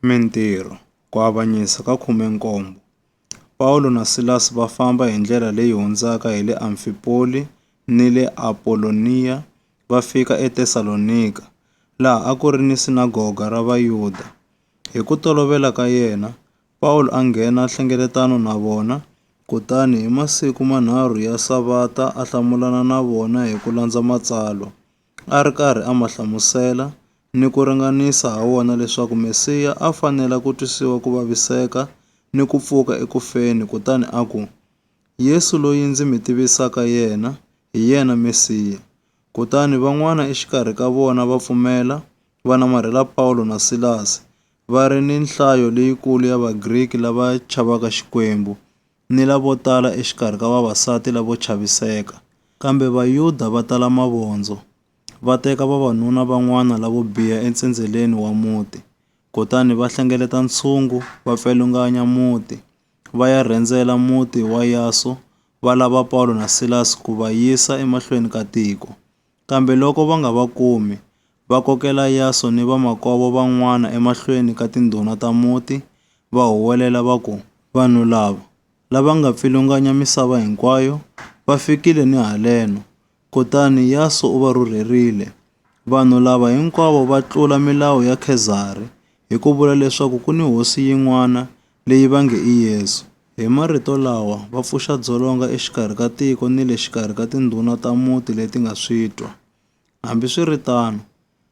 Mintirho, Ku avanyisa ka 17 Pawulo na Silasi va famba hi ndlela leyi hundzaka hi le Amfipoli ni le Apoloniya va fika eTesalonika, laha a ku ri ni sinagoga ra Vayuda. Hi ku tolovela ka yena, Pawulo a nghena nhlengeletano na vona, kutani hi masiku manharhu ya Savata a hlamulana na vona hi ku landza Matsalwa. a ri karhi a ma hlamusela ni ku ringanisa ha wona leswaku Mesiya a fanela ku twisiwa ku vaviseka ni ku pfuka eku feni kutani a ku, Yesu loyi ndzi mi tivisaka yena, hi yena Mesiya. Kutani van'wana exikarhi ka vona va pfumela, va namarhela Pawulo na Silasi, va ri ni nhlayo leyikulu ya Vagriki lava chavaka Xikwembu. ni lavo tala exikarhi ka vavasati lavo chaviseka, kambe Vayuda va tala mavondzo, va teka vavanuna van'wana lavo biha entsendzeleni wa muti, kutani va hlengeleta ntshungu, va pfilunganya muti, va ya rhendzela muti wa Yaso, va lava Pawulo na Silasi ku va yisa emahlweni ka tiko. Kambe loko va nga va kumi, va kokela Yaso ni vamakwavo van'wana emahlweni ka tindhuna ta muti, va huwelela va ku, Vanhu lava, lava nga pfilunganya misava hinkwayo, va fikile ni haleno. Kutani Yaso u va rhurherile, Vanhu lava hinkwavo va tlula milawu ya Khezari hi ku vula leswaku ku ni hosi yin'wana leyi va nge i Yesu. Hi marito lawa, va pfuxa dzolonga exikarhi ka tiko ni le xikarhi ka tindhuna ta muti leti nga switwa. Hambiswiritano,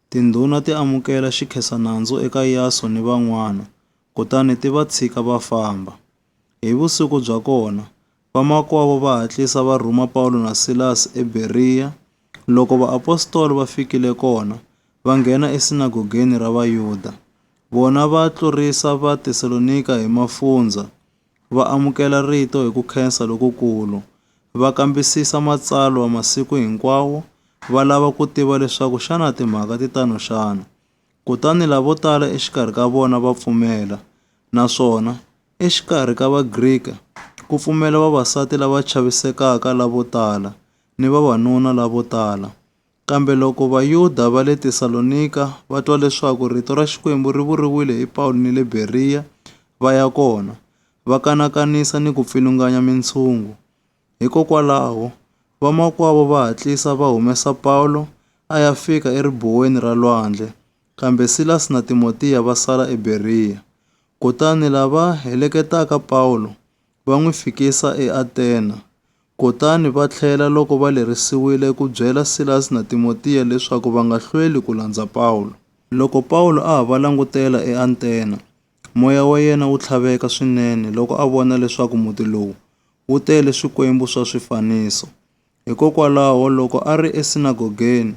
tindhuna ti amukela xikhensa-nandzu eka Yasu ni van'wana, kutani ti va tshika va famba. Hi vusiku bya kona, Vamakwavo va hatlisa va rhuma Pawulo na Silasi eBeriya. Loko vaapostola va fikile kona, va nghena esinagogeni ra Vayuda. Vona va tlurisa Vatesalonika hi mafundzha, va amukela rito hi ku khensa lokukulu. Va kambisisa Matsalwa masiku hinkwawo, va lava ku tiva leswaku xana timhaka ti tano xana. Kutani lavo tala exikarhi ka vona va pfumela, naswona exikarhi ka Vagrika ku pfumela vavasati lava chavisekaka lavo tala ni vavanuna lavo tala. Kambe loko Vayuda va le Tesalonika va twa leswaku rito ra Xikwembu ri vuriwile hi Pawulo ni le Beriya, va ya kona, va kanakanisa ni ku pfilunganya mintshungu. Hikokwalaho, vamakwavo va hatlisa va humesa Pawulo a ya fika eribuweni ra lwandle, kambe Silasi na Timotiya va sala eBeriya. Kutani lava heleketaka Pawulo va n'wi fikisa eAtena, kutani va tlhela loko va lerisiwile ku byela Silasi na Timotiya leswaku va nga hlweli ku landza Pawulo. Loko Pawulo a ha va langutela eAtena, Moya wa yena wu tlhaveka swinene loko a vona leswaku muti lowu wu tele swikwembu swa swifaniso. Hikokwalaho, loko a ri esinagogeni,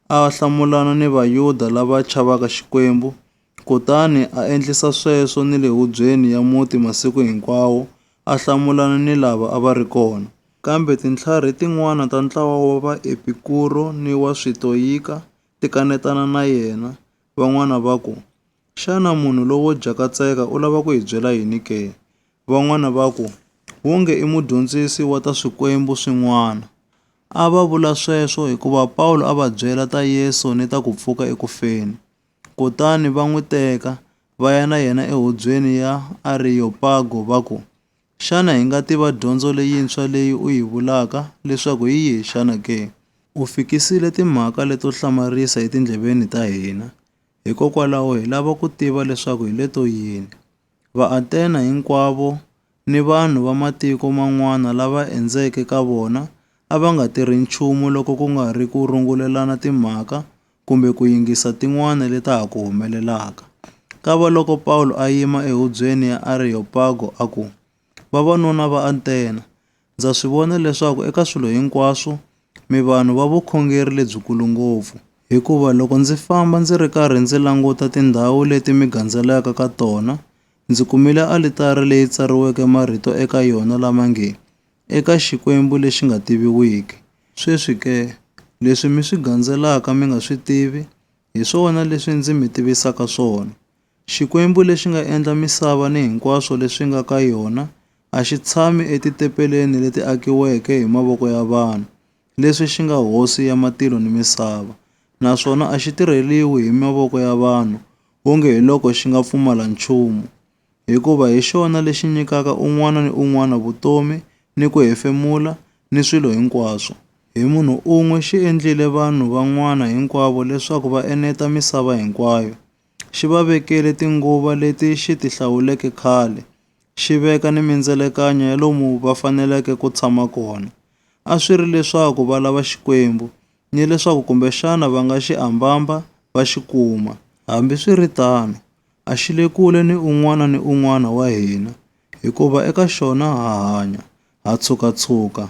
a hlamulana ni Vayuda lava chavaka Xikwembu kutani a endlisa sweswo ni le hubyeni ya muti masiku hinkwawo a hlamulana ni lava a va ri kona. Kambe tintlharhi tin'wana ta ntlawa wa Vaepikuro ni wa Switoyika ti kanetana na yena, van'wana va ku, Xana munhu lowo jakatseka u lava ku hi byela yini ke? Van'wana va ku, Wonge i mudyondzisi wa ta swikwembu swin'wana. A va vula sweswo hikuva Pawulo a va byela ta Yesu ni ta ku pfuka eku feni. Kutani va n'wi teka, va ya na yena ehubyeni ya Ariyopago va ku, Xana hi nga tiva dyondzo leyintshwa leyi u yi vulaka leswaku hi yihi xana ke? U fikisile timhaka leto hlamarisa etindleveni ta hina. Hikokwalaho hi lava ku tiva leswaku hi le to yini. Vaathena hinkwavo ni vanhu va matiko man'wana lava endzeke ka vona a va nga tirhi nchumu loko ku nga ri ku rungulelana timhaka kumbe ku yingisa tin'wana leta ha ku humelelaka. Kava loko Pawulo a yima ehubyeni ya Areyopago a ku, Vavanuna va Athena, Ndza swi vona leswaku eka swilo hinkwaswo mi vanhu va vukhongeri lebyikulu ngopfu, hikuva loko ndzi famba ndzi ri karhi ndzi languta tindhawu leti mi gandzelaka ka tona, ndzi kumile alitari leyi tsariweke marito eka yona lama nge, Eka Xikwembu lexi nga tiviwiki. Sweswi ke, leswi mi swi gandzelaka mi nga swi tivi, hi swona leswi ndzi mi tivisaka swona. Xikwembu lexi nga endla misava ni hinkwaswo leswi nga ka yona a xi tshami etitepeleni leti akiweke hi mavoko ya vanhu, leswi xi nga Hosi ya matilo ni misava, naswona a xi tirheriwi hi mavoko ya vanhu onge hi loko xi nga pfumala nchumu, hikuva hi xona lexi nyikaka un'wana ni un'wana vutomi ni ku hefemula ni swilo hinkwaswo. Hi munhu un'we xi endlile vanhu van'wana hinkwavo leswaku va eneta misava hinkwayo, xi va vekele tinguva leti xi ti hlawuleke khale, xi veka ni mindzelekanyo ya lomu va faneleke ku tshama kona. A swi ri leswaku va lava Xikwembu, ni leswaku kumbexana va nga xi ambamba va xi kuma. Hambi swi ri tano, a xi le kule ni un'wana ni un'wana wa hina, hikuva eka xona ha hanya, ha tshuka-tshuka,